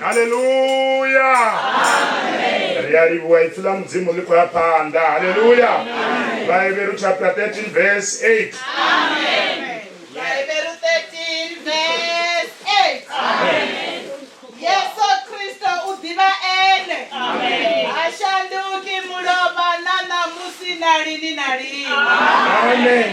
haleluya ri a livhuwa ipfi ḽa mudzimu ḽi khou ya phanḓa haleluya vhaeberu chapter 13 verse 8 Vhaeberu 13 verse 8 Yesu Kristo u ḓivha ene ha shanduki mulovha na ṋamusi na lini na lini amen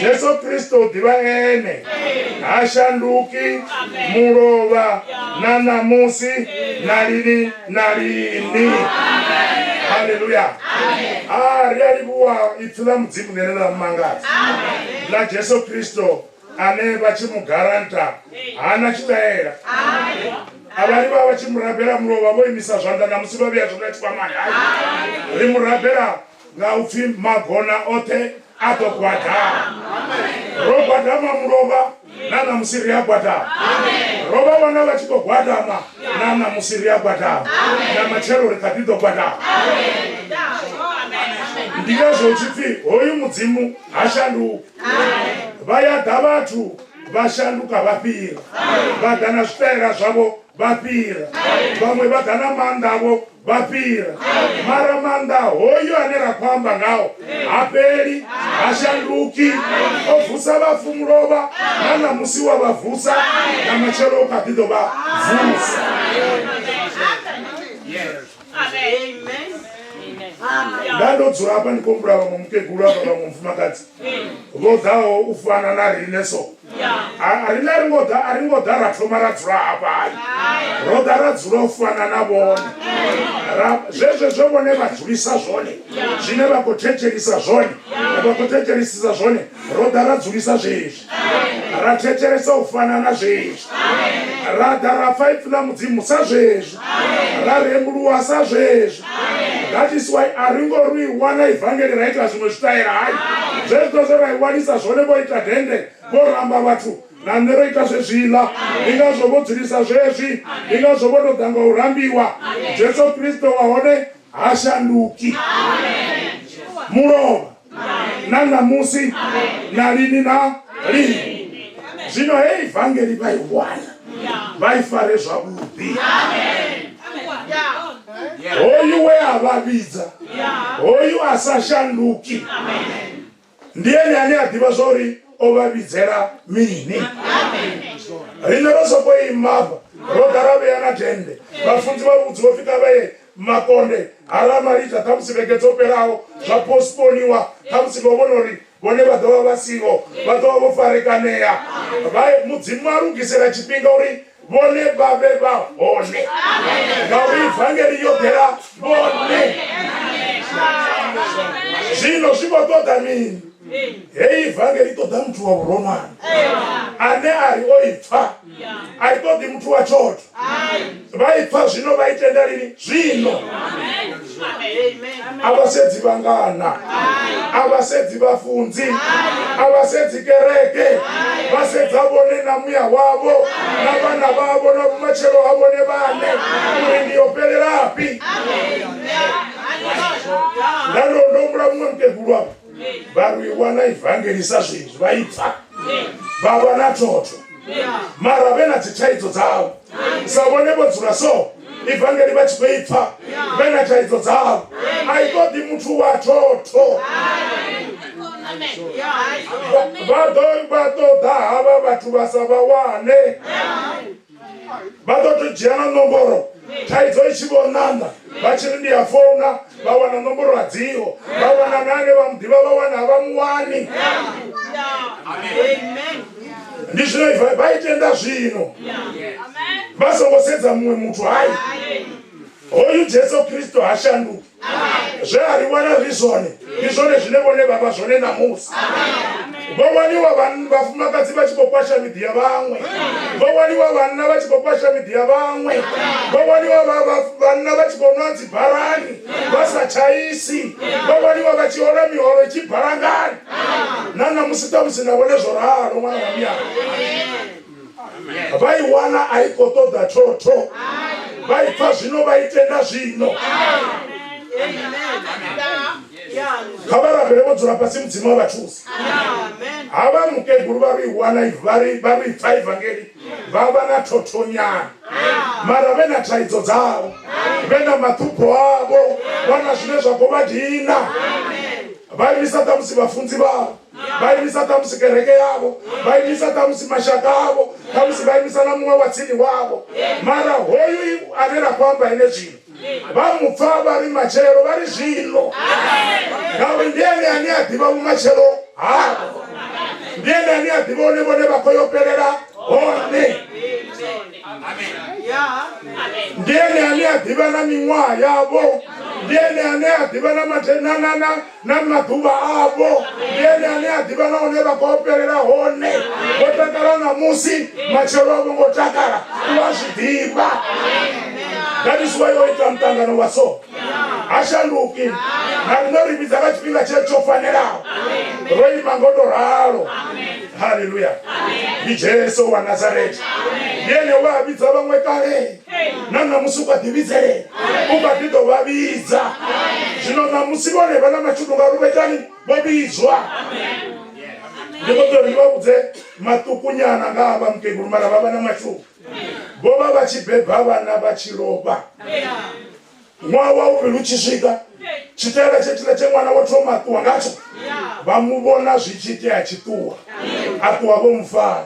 jesu kristo u ḓivha ene ha shanduki mulovha na ṋamusi na lini na lini haleluya a ri a livhuwa ipfi ḽa mudzimu ḽene ḽa mumangadza ḽa jesu kristo ane vha tshi mu garanta hana tshitaela avhari vha vha tshi murabela mulovha vho imisa zwanḓa na musi vha vheya zwanḓa tshikwamani ri murabela nga u pfi magona oṱhe a ḓo gwadama ro gwadama mulovha na ṋamusi ri a gwadama ro vha vhona vha tshi ḓo gwadama na ṋamusi ri a gwadama na matshelo ri kha ḓi ḓo gwadama ndi ngazwo tshi pfi hoyu mudzimu ha shanduki vha ya ḓa vhathu vha shanduka vha fhira vha ḓa na zwitaela zwavho vha fhira vhaṅwe vha ḓa na maanḓa avho vha fhira mara maanḓa hoyo ane ra khou amba ngao ha fheli ha shanduki o vusa vhafu mulovha na ṋamusi wa vha vusa na matshelo u kha ḓi ḓo vha vusa nda ndo dzula hafha ndi khou humbula vhaṅwe mukegulu hafha vhaṅwe mufumakadzi vho ḓaho u fana na riṋe so riṋe ri ngo ḓa a ri ngo ḓa ra thoma ra dzula hafha hai ro ḓa ra dzula u fana na vhone zwezwo zwo vhone vha dzulisa zwone zwine vha khou thetshelisa zwone vha khou thetshelisisa zwone ro ḓa ra dzulisa zwezwi ra thetshelesa u fana na zwezwi ra ḓa ra pfa ipfi ḽa mudzimu sa zwezwi ra rembuluwa sa zwezwi that is why a ri ngo ri i wana ivangeli ra ita zwiṅwe zwitaela hayi zwezwiḽa zwe ra i wanisa zwone vho ita dende vho ramba vhathu na nṋe ro ita zwezwiḽa ndi ngazwo vho dzulisa zwezwi ndi ngazwo vho tou ḓa nga u rambiwa jesu kristo wa hone ha shanduki mulovha na ṋamusi na lini na lini zwino hei vangeli vha i wana vha i fare zwavhuḓi hoyu we a vha vhidza hoyu a sa shanduki ndi ene ane a ḓivha zwa uri o vha vhidzela mini riṋe ro soko imafha ro ḓa ra vhea na dende vhafunzi vha vhudzi vho fika vhee makonde ha ramalita khamusi vhege dzo fhelaho zwa postponiwa khamusi vho vhona uri vhone vha ḓovha vha siho vha ḓovha vho farekanea mudzimu a lugisela tshifhinga uri vhone vha vhe vha hone ngauri ivangeli yo ḓela vhone zwino zwi vho ṱoḓa mini heyi ivangeli i ṱoḓa muthu wa vhuronwane ane a ri o i pfa a i ṱoḓi muthu wa tshoṱhe vha i pfa zwino vha i tenda lini zwino a vha sedzi vhangana a vha sedzi vhafunzi a vha sedzi kereke vha sedza vhone na muya wavho na vhana vhavho na vhumatshelo ha vhone vhane uri ndi yo fhelelafhi nda ndo ndo humbula muṅwe mukegulu wavho vha ri i wana ivangeli sa zwezwi vha i pfa vha vha na thotho mara vhe na dzithaidzo dzavho sa vhone vho dzula so ivangeli vha tshi khou i pfa vhe na thaidzo dzavho a i ṱoḓi muthu wa thotho vha ḓo vha ṱoḓa havha vhathu vha sa vha wane vha ḓo to dzhia na nomboro thaidzo i tshi vho ṋanda vha tshi ri ndi ya founa vha wana nomboro a dziho vha wana na ane vha mu ḓivha vha wana a vha mu wani ndi zwine vha i tenda zwino vha songo sedza muṅwe muthu hai hoyu jesu kristo ha shanduki zwe a ri wana ri zwone ndi zwone zwine vhone vha vha zwone ṋamusi vho waniwa vhafumakadzi vha tshi khou kwasha miḓi ya vhaṅwe vho waniwa vhanna vha tshi khou kwasha miḓi ya vhaṅwe vho waniwa vhanna vha tshi khou nwa dzibarani vha sa tshaisi vho waniwa vha tshi hola miholo i tshi balangani na ṋamusi ṱamusi na vhone zwo ralo ṅwana wa miyana vha i wana a i khou ṱoḓa thotho vha i pfa zwino vha i tenda zwino kha vha rabele vho dzula fhasi mudzimu wa vha thusa ha vha mukegulu vha ri wana vha ri vha ri pfa evangeli vha vha na thothonyana mara vhe na thaidzo dzavho vhe na maṱhupho avho vha na zwine zwa khou vha dina vha imisa ṱhamusi vhafunzi vhavho vha imisa ṱhamusi kereke yavho vha imisa ṱhamusi mashaka avho ṱhamusi vha imisa na muṅwe wa tsini wavho mara hoyu ane ra khou amba ene zwino vha mu pfa vha ri matshelo vha ri zwino ngauri ndi ene ane a ḓivha vhumatshelo havho ndi ene ane a ḓivha one vhone vha khou yo fhelela hone ndi ene ane a ḓivha na miṅwaha yavho ndi ene ane a ḓivha na na maḓuvha avho ndi ene ane a ḓivha na hune vha khou fhelela hone vho takala ṋamusi matshelo a vho ngo takala u a zwi ḓivha that is why o ita muṱangano wa so ha shanduki na riṋe ri vhidza nga tshifhinga tshe tsho fanelaho ro ima ngo to ralo haleluya ndi jesu wa nazareta ndi ene wa vhidza vhaṅwe kale na ṋamusi u kha ḓi vhidzelela u kha ḓi ḓo vha vhidza zwino ṋamusi vhone vha na mashudu ngauri vha itani vho vhidzwa ndi kho ḓori ndi vha vhudze maṱukunyana nga ha vha mukegulu mara vha vha na mashudu vho vha vha tshi beba vhana vha tshi lovha ṅwaha wa vhuvhili u tshi swika tshitaela tshetshila tshe ṅwana wo thoma a ṱuwa ngatsho vha mu vhona zwi tshi itea a tshi ṱuwa a ṱuwa vho mufara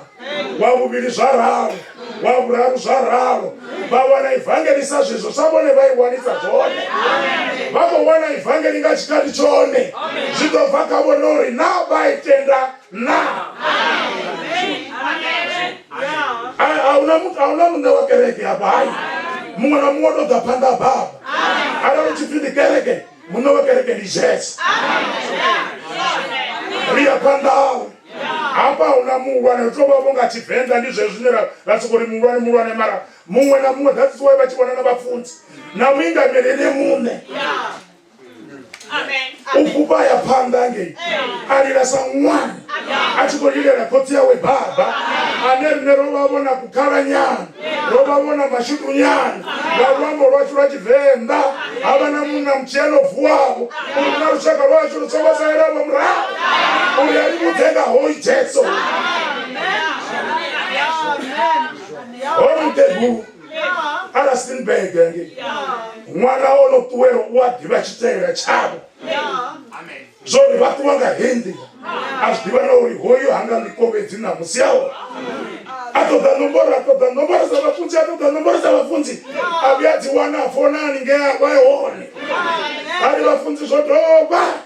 wa vhuvhili zwa ralo wa vhuraru zwa ralo vha wana ivangelisa zwezwo sa vhone vha i wanisa zwone vha khou wana ivangeli nga tshikhathi tshone zwi ḓo bva kha vhone uri na vha i tenda naa Eh, ahuna muthu ahuna muṋe wa kereke hafha hai muṅwe na muṅwe tou ḓa phanḓa ha baba arali u tshi pfi ndi kereke muṋe wa kereke ndi jesu ri ya phanḓa hawe hafha ahuna muhulwane ri tou vha vho nga tshivenḓa ndi zwe zwine ra- ra soko ri muhulwane muhulwane mara muṅwe na muṅwe that's why vha tshi vhona na vhafunzi na muingameli ene muṋe u fhufha ya phanḓa ngei a lila sa ṅwana a tshi khou lilela khotsi yawe baba ane rine ro vha vhona kukhalanyana ro vha vhona mashudunyana nga luambo lwashu lwa tshivenḓa ha vha na munna mutshelo vuwavho uri na lushaka lwashu lu songo salelavo murahu uri a livhudze nga hoyi jesu hoyu mukegulu a rustenburg hange ṅwana o no ṱuwela u a ḓivha tshitaela tshavho zwo ri vha ṱuwa nga hei nḓila a zwi ḓivha na uri hoyu hanga ḽikovhedzi na musi a hone a ṱoḓa nomboro a ṱoḓa nomboro dza vhafunzi a ṱoḓa nomboro dza vhafunzi a vhuya dzi wana a fona haningea vha hone a ri vhafunzi zwo dovha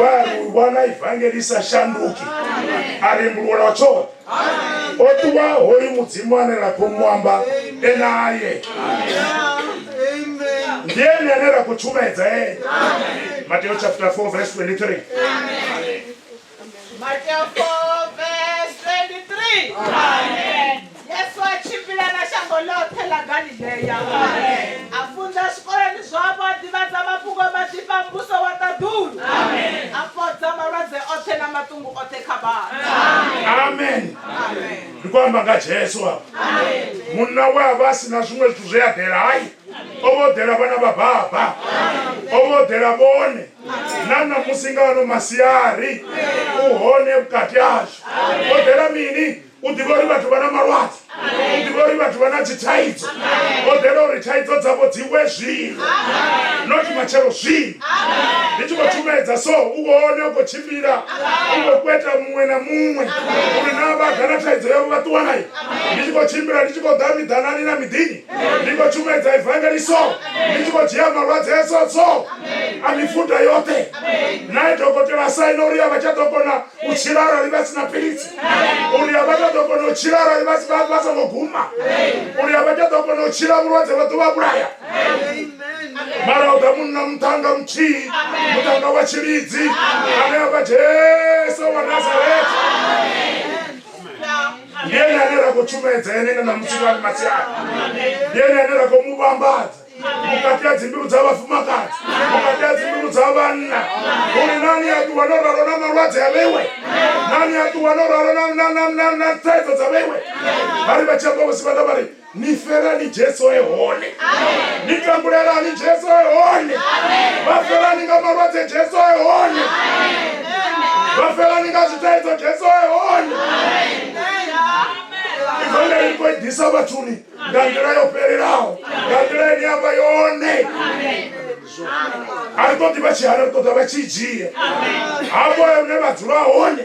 wa lu vhona ivangeli sa shanduki a rembulula tshoṱhe o ṱuwa hoyu mudzimu ane ra khou muamba enaye ndi ene ane ra khou tshumedza ene mateo chapter 4 verse 23 Mateo 4 verse 23. Amen. Yesu a tshimbila na shango ḽoṱhe ḽa Galileya. Amen. A funza zwikoloni zwavho a ḓivhadza mafhungo maḓifha a mbuso wa ṱaḓulu. Amen. A fhodza malwadze oṱhe na maṱungu oṱhe kha vhathu. Amen. Amen. Amen. Ndi khou amba nga Jesu a. Amen. Munna we a vha si na zwiṅwe zwithu zwe a ḓela hai. O vha o ḓela vhana vha baba. O vha o ḓela vhone. na ṋamusi nga ano masiari u hone vhukati ashu o ḓela mini u ḓivha uri vhathu vha na malwadze u ḓivha uri vhathu vha na dzithaidzo o ḓela uri thaidzo dzavho dzi we zwino not matshelo zwino ndi tshi khou tshumaedza so u vhone u khou tshimbila u khou kweta muṅwe na muṅwe uri na vha ḓa na thaidzo yavho vha ṱuwa nayo ndi tshi khou tshimbila ndi tshi khou ḓa miḓanani na miḓini ndi khou tshumedzo evangeliso ndi tshi khou dzhia malwadze a tsotso a mifuda yoṱhe nae dokotela saina uri a vha tsha ḓo kona u tshila arali vha si na philisi uri a vha tsha ḓo kona u tshila arali vha songo guma uri a vha tsha ḓo kona u tshila vhulwadze vha ḓo vha vhulaya mara u ḓa munna muṱhanga muthihi muṱhanga wa tshilidzi ane a vha jesu wa nazareta ndi ene ane ra khou tshumaedza ene nga na mutsiko ali masiani ndi ene ane ra khou mu vhambadza vhukati ha dzimbilu dza vhafumakadzi vhukati ha dzimbilu dza vhanna uri nani a ṱuwa no ralo na malwadze a vheiwe nani a ṱuwa no ralo na- na- na- na- na thaidzo dza vheiwe vha ri vha tshi amba vhosi vhanga vha ri ni felani jesu e hone ni tambulelani jesu e hone vha felani nga malwadze jesu e hone vha felani nga zwitaidzo jesu e hone ivangeli ri khou i ḓisa vhathuni nga nḓila yo fhelelaho nga nḓila ine ya vha yone a ri ṱoḓi vha tshi hana ri ṱoḓa vha tshi dzhia hafho hune vha dzula hone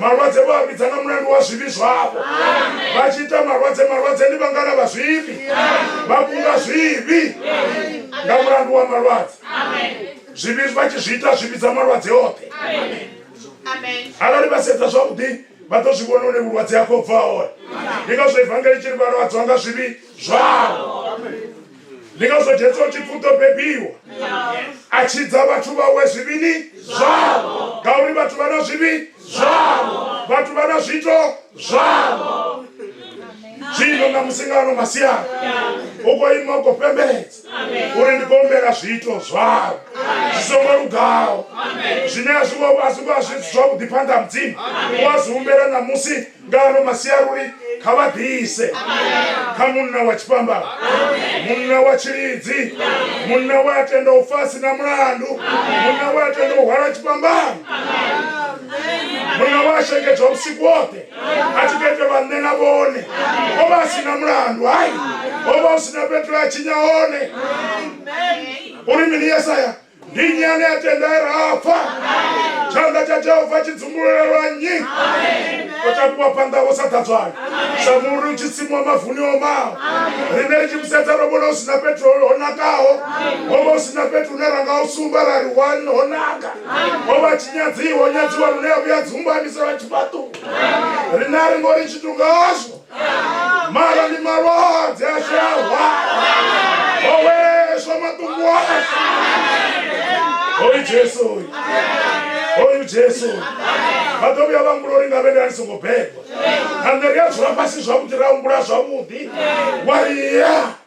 malwadze vho a vhidza nga mulandu wa zwivhi zwavho vha tshi ita malwadze malwadze ndi vhangana vha zwivhi vha kunga zwivhi nga mulandu wa malwadze zwivhi vha tshi zwi ita zwi vhidza malwadze oṱhe arali vha sedza zwavhuḓi vha ḓo zwi vhona une vhulwadze ha khou bva hone ndi ngazwo evangeli tshi ri vhalwadzwa nga zwivhi zwavho ndi ngazwo jesu o tshi pfhi u ḓo bebiwa a tshidza vhathu vhawe zwivhini zwavho ngauri vhathu vha na zwivhi zwavho vhathu vha na zwiito zwavho zwino na musingano masiana u khou ima u khou fhembeledza uri ndi khou humbela zwiito zwavho zwi songo lugaho zwine a zwi ngo a zwi ngo a zwi zwavhuḓi phanḓa ha mudzimu u a zwi humbela ṋamusi nga ano masiaruli kha vha ḓise kha munna wa tshipambala munna wa tshilidzi munna we a tenda u fasi na mulandu munna we a tenda u hwala tshipambano munna wa shengedzwa vhusiku woṱhe a tshi ketelwa nṋe na vhone o vha a si na mulandu hai o vha u si na fhethu a tshinya hone uri mini yesaya ndi nnyi ane a tenda e ra pfa tshanḓa tsha jehova tshi dzumbululelwa nnyi o takuwa phanḓa vho sa ḓadzwayo sa muri u tshi simuwa mavuni o maho rine ri tshi musedza ro vhona hu si na fhethu ho nakaho ho vha hu si na fhethu hune ra nga u sumba ra ri wani ho naka ho vha tshinyadziwa nyadziwa lune ya vhuya dzumbamisela tshifhaṱuwo rine a ri ngo ri tshithu ngazwo mara ni malwadze a tshi a hwa o weswa maṱungu ashu hoyu jesu uyu hoyu jesu uyu vha ḓo vhuya vha humbula uri nga vhene a ni songo bebwa na nṋe ri a dzula fhasi zwavhuḓi ra humbula zwavhuḓi wa ri ya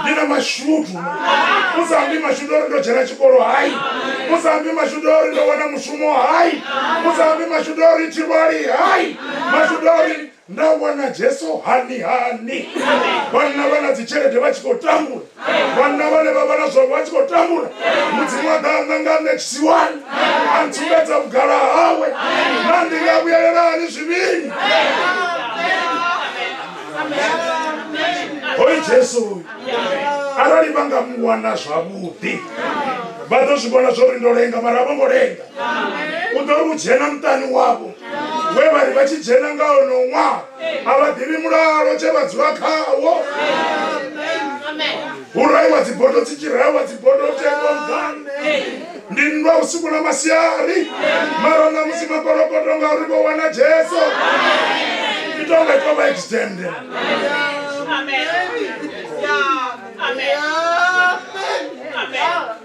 ndi na mashudu musambi mashudu ori ndo dzhena tshikolo hai musambi mashudu ori ndo wana mushumo hai musambi mashudu ori tshivhali hai mashudu ori Na wana Jesu hani hani. Vhanna vha na dzitshelede vha tshi khou tambula. Vhanna vhane vha vha na zwavho vha tshi khou tambula. Mudzimu a ḓa a nṋa nga nṋe tshisiwani a ntsumbedza vhugala hawe na ndi nga vhuyelela hani zwivhini. Hoyu Jesu uyu arali vha nga mu wana zwavhuḓi vha ḓo zwi vhona zwo ri ndo lenga mara a vho ngo lenga. u ḓo ri u dzhena muṱani wavho we vha ri vha tshi dzhena nga ono ṅwaha a vha ḓivhi mulalo tshe vha dzula khawo hu raiwa dzibodo dzi tshi raiwa dzibodo tengongani ndi nndwa vhusiku na masiari mara na musi makolokoto ngauri vho wana jesu i tonga i tovha extende Amen. Amen. Amen. Amen.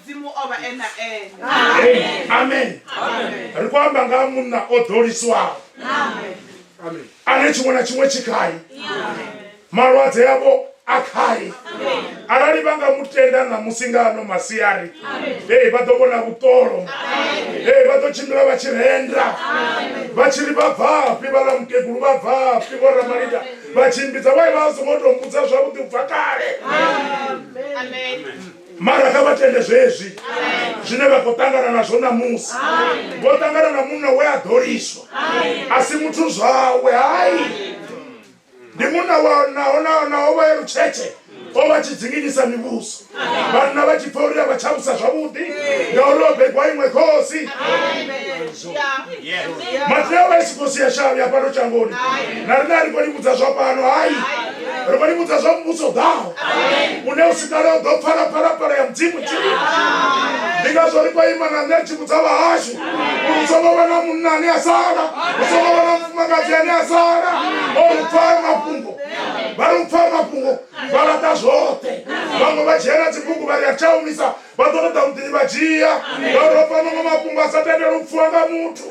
mudzimu o vha e na ene Amen. amen Amen. ri khou amba nga ha munna o ḓoliswaho Amen. Amen. ane tshiṅwe na tshiṅwe tshi khae malwadze avho a khae arali vha nga mu tenda ṋamusi nga ano masiari ee vha ḓo vhona vhuṱolo ee vha ḓo tshimbila vha tshi renda vha tshi ri vha bvafhi vhaḽa mukegulu vha bvafhi vho ramalida vha tshimbidza vha vha songo tou mbudza zwavhuḓi u bva kale Amen. mara kha vha tende zwezwi zwine vha khou ṱangana nazwo ṋamusi vho ṱangana na munna we a ḓoliswa a si muthu zwawe hai ndi munna wa naho naho naho vha ye lutshetshe o vha tshi dzinginyisa mivhuso vhanna vha tshi pfa uri a vha tshavusa zwavhuḓi ngauri o begwa iṅwe khosi mateo a siko sia shavhu ya fhano shangoni na rina ri khou livhudza zwa fhano hai ri khou livhudza zwa muvhuso ḓaho une u sikale u ḓo pfala phalaphala ya mudzimu tsini ndi ngazwo ri khou ima na nṋe tshivhudza vhahashu uri u songo vha na munna ane a sala u songo vha na mufumakadzi ane a sala o ri pfale mafhungo vha ri u pfale mafhungo vha laṱa zwoṱhe vhaṅwe vha dzhena dzibugu vha ri a tshaumisa vha ḓo ṱoḓa vhuḓinyi vha dzhia vha ḓo pfa maṅwe mafhungo a sa tendela u pfuwa nga muthu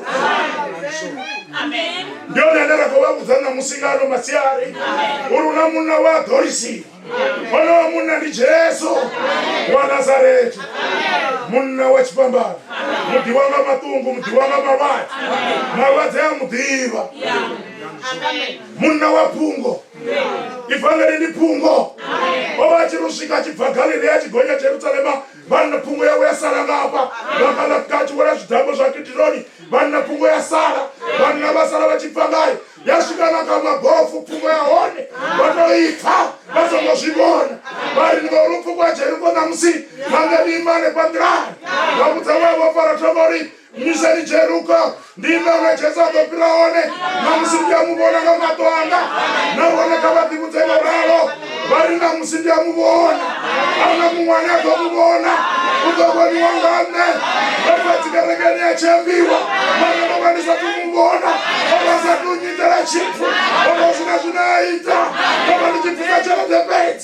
ndi one ane ra khou vha vhudza ṋamusi nga ano masiari uri hu na munna wa dorisiwa onowa munna ndi jesu wa nazaretha munna wa tshifhambano muḓivha nga maṱungu muḓivha nga malwadze malwadze a muḓivha munna wa phungo ivhangeli ndi phungo o vha a tshi ri swika a tshi bva galilea a tshi gonya jerusalema vhanna phungo yawe ya sala nga hafha vha kalafika a tshi wela zwidango zwa kidironi vhanna phungo ya sala vhanna vha sala vha tshi bva ngayo ya swika na kha mabofu phungo ya hone vha to ipfa vha songo zwi vhona vha ri ndi vha uri phungo ya jeriko ṋamusi nanga ni ima hanefha nḓilani vha vhudza waya vha fara thoma uri misani jeruka ndi nanga jesu a ḓo fhira hone na musi ndi a mu vhona nga maṱo anga nahone kha vha ḓivhudze nga ralo vha ri na musi ndi a mu vhona ahuna muṅwe ane a ḓo mu vhona u ḓo vhoniwa nga nṋe ndo vha dzikerekeni ya tshembiwa mara ndo vha ndi sa tu mu vhona o vha sa tu nyitela tshithu o vha sina zwine a ita ndo vha ndi tshi bvisa tshelede fhedzi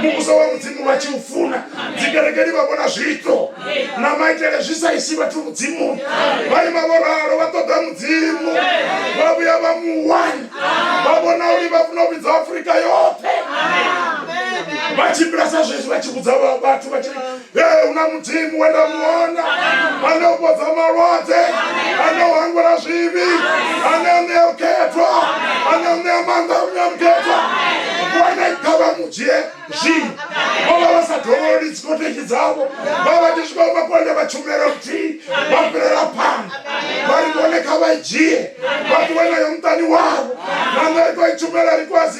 muvhuso wa mudzimu vha tshi u funa dzikerekeni vha vhona zwiito na maitele zwi sa isi vhathu mudzimuni vha ima vho ralo vha ṱoḓa mudzimu vha vhuya vha muwani vha vhona uri vha funa u vhidza afurika yoṱhe vha tshimbila sa zwezwi vha tshi vhudza vhathu vha tshi Ee, una mudzimu we nda muona ane u fhodza malwadze ane u hangwela zwivhi ane u ṋea vhukhethwa ane u ṋea maanḓa u ṋea vhukhethwa vhone kha vha mu dzhie zwino vho vha vha sa dovhololi dzikoteki dzavho vha vha tshi swika makonde vha tshumela luthihi vha fhirela phanḓa vha ri vhone kha vha i dzhie vha ṱuwe nayo muṱani wavho na nṋe ri tou i tshumela ri kwazi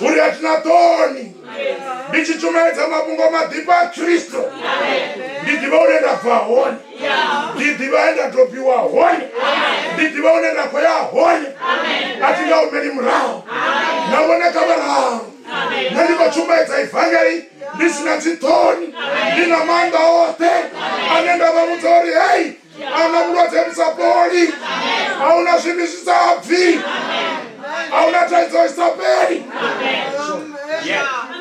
uri a thi na ṱoni ndi tshi tshumeledza mafhungo maḓifha a khristo ndi ḓivha une nda bva hone ndi ḓivha he nda dobiwa hone ndi ḓivha une nda khou ya hone a thi nga humeli murahu na vhone kha vhararu nṋe ndi khou tshumeledza ivangeli ndi si na dziṱhoni ndi na maanḓa oṱhe ane nda vha vhudza uri hei ana vhulwadze vhu sa fholi a hu na zwimi zwi sa bvi a hu na thaidzo i sa fheli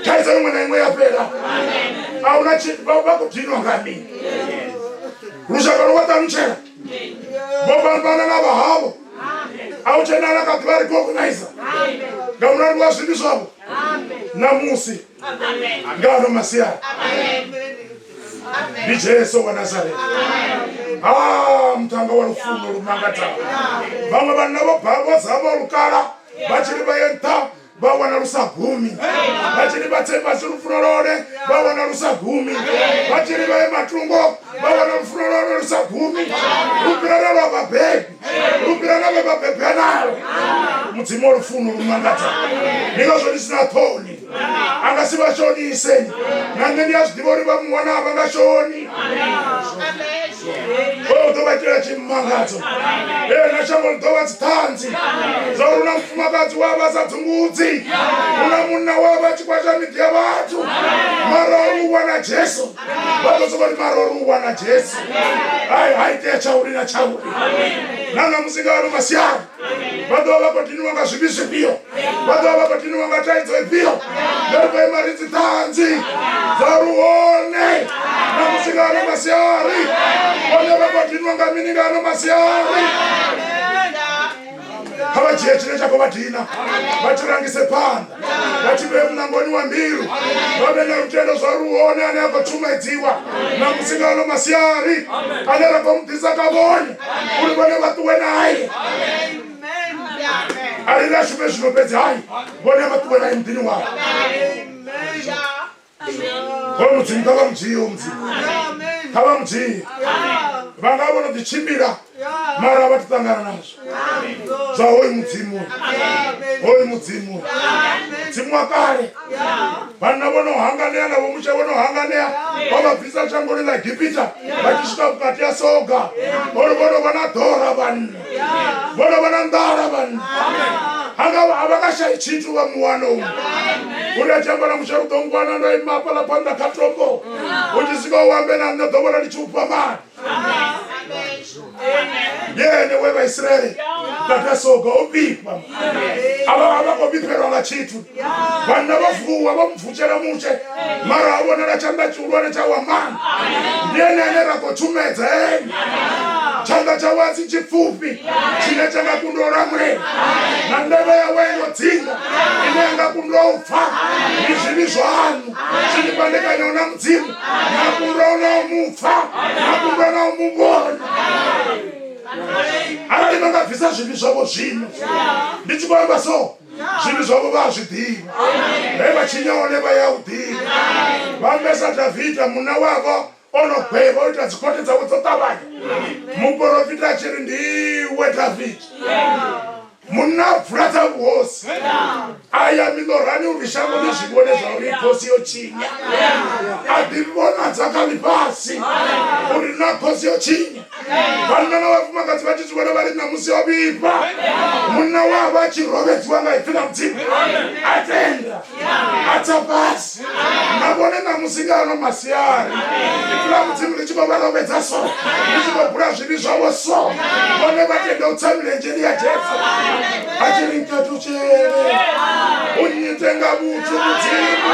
thaidzo iṅwe na iṅwe ya fhela a hu na vha khou dinwa nga mini lushaka lu vha ṱalutshela vho fhambana na vhahavho a hu tshenala kha ḓuvha recognizer nga mulandu wa zwimi zwavho ṋamusi ngano masiani ndi jesu wa nazareta Ah, mutanga wa lufuno lu mangadzaho vhaṅwe vhanna vho bhavho dzavho lukala vha tshiri vha ye nṱha vha wana lu sa gumi vha tshiri vha tse fhasi lufuno lone vha wana lu sa gumi vha tshiri vha ye matungo vha wana lufuno lone lu sa gumi lu fhirela lwa vhabebi lupira na vhe vha bebe nalo mudzimu wa lufuno lu mangadza ndi ngazwo ndi sina ṱhoni a nga si vha shonise na nṋe ndi a zwi ḓivha uri vha muwana a vha nga shoni o ḓo vha itela tshimangadzo ee na shango ḽi ḓo vha dziṱhanzi zwa uri na mufumakadzi wa vha sa dzungudzi u na munna wa vha tshikwata miḓi ya vhathu mara u wana jesu vha ḓo sokou ri mara uri u wana jesu ai ha itea tshauri na tshauri na ṋamusi nga ano masiari vha ḓo vha vha khou diniwa nga zwivhi zwifhio vha ḓo vha vha khou diniwa nga thaidzo ifhio nda ri khou ima ri dzi ṱhanzi dza ri hone ṋamusi nga ano masiari vhone vha khou diniwa nga mini nga ano masiari kha vha dzhie tshine tsha khou vha dina vha tshi rangise phanḓa vha tshi vhee muṋangoni wa mbilu vha vhe na lutendo zwa ri hone ane a khou tshumedziwa na musi nga ano masiari ane ra khou mu ḓisa kha vhone uri vhone vha ṱuwe naye a ri ri a shume zwino fhedzi hai vhone vha ṱuwe naye muḓini wavho hoyo mudzimu kha vha mudzii hoyo mudzimu kha vha mudzii vha nga vho no ḓi tshimbila mara vha ti ṱangana nazwo zwa hoyu mudzimu hoyu mudzimu mudzimu wa kale vhanna vho no hanganea na vhomusha vho no hanganea vha vha bvisa shangoni ḽa egipita vha tshi swika vhukati ya soga ori vho no vha na ḓora vhanna vhona vhona nḓala vhanna hanga a vha nga shayi tshithu vha muwana u uri a tshi amba na musha u ḓo ngwana ndo ima hafhaḽa phanḓa kha tombo u tshi swika u ambe na nṋe ḓo vhona ndi tshi u fha mali ndi ene we vhaisraele vha tasoga o vhifha a vha khou vhifhelwa nga tshithu vhanna vha vuwa vha mubvutshela mutshe mara ha vhonala tshanḓa tshihulwane tsha wamana ndi ene ane ra khou tshumedza ene tshanḓa tshawe a si tshipfufhi tshine tsha nga kundwa u lamulela na ndevhe yawe yo dzinga ine ya nga kundwa u pfa ndi zwivhi zwaṋu zwi ni fhandekanyaho na mudzimu na kundwa u na u mu pfa na kundwa na u mu vhona arali vha nga bvisa zwivhi zwavho zwino ndi tshi khou amba so zwithu zwavho vha a zwi ḓivha he vha tshinya hone vha ya u ḓivha vha ambesa davida munna wavho o no gwevha o ita dzikhothe dzawe dzo ṱavhanya muporofita a tshi ri ndiwe davida munna a bvula dza vhuhosi a ya miḽorani uri shango ḽi zwi vhone zwa uri khosi yo tshinya a ḓivhonadza kha ḽifhasi uri na khosi yo tshinya vhanna na vhafumakadzi vha tshi zwi vhona vha ri ṋamusi yo vhifha munna wavho a tshi rovedziwa nga ipfi ḽa mudzimu a tenda a tsa fhasi na vhone ṋamusi nga ano masiari ipfi ḽa mudzimu ḽi tshi khou vha rovedza so ḽi tshi khou bula zwivhi zwavho so vhone vha tenda u tsa milenzheni ya jesu a tshi ri nkatutshele u nyite nga vhuthu mudzimu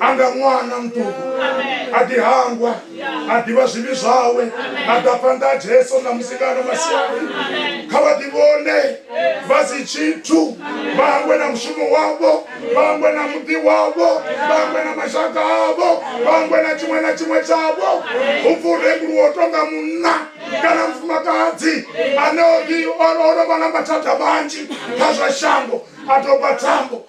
anga ṅwana muṱuku a ḓi hangwa a ḓivha zwivhi zwawe a ḓa phanḓa a jesu na musikano masiari kha vha ḓi vhone vha si tshithu vha hangwe na mushumo wavho vha hangwe na muḓi wavho vha hangwe na mashaka avho vha hangwe na tshiṅwe na tshiṅwe tshavho hu pfi u renguluwa u tonga munna kana mufumakadzi ane o ḓi o no vha na mathada manzhi kha zwa shango a doba thambo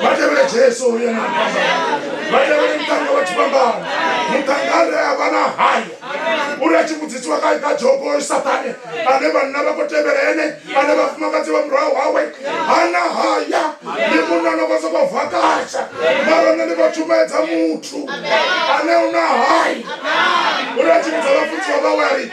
vha tevhele jesu uyo na vha tevhele muṱanga wa tshifhambano muṱanga a re a vha na haya uri a tshi vhudzisiwa kha kha jobo sathane ane vhanna vha khou tevhela ene ane vhafumakadzi vha murahu hawe hana haya ndi munna no khou sokou vakasha mara nṋe ndi khou tshumaedza muthu ane u na haya uri a tshi vhudza vhafunziwa vhawe a ri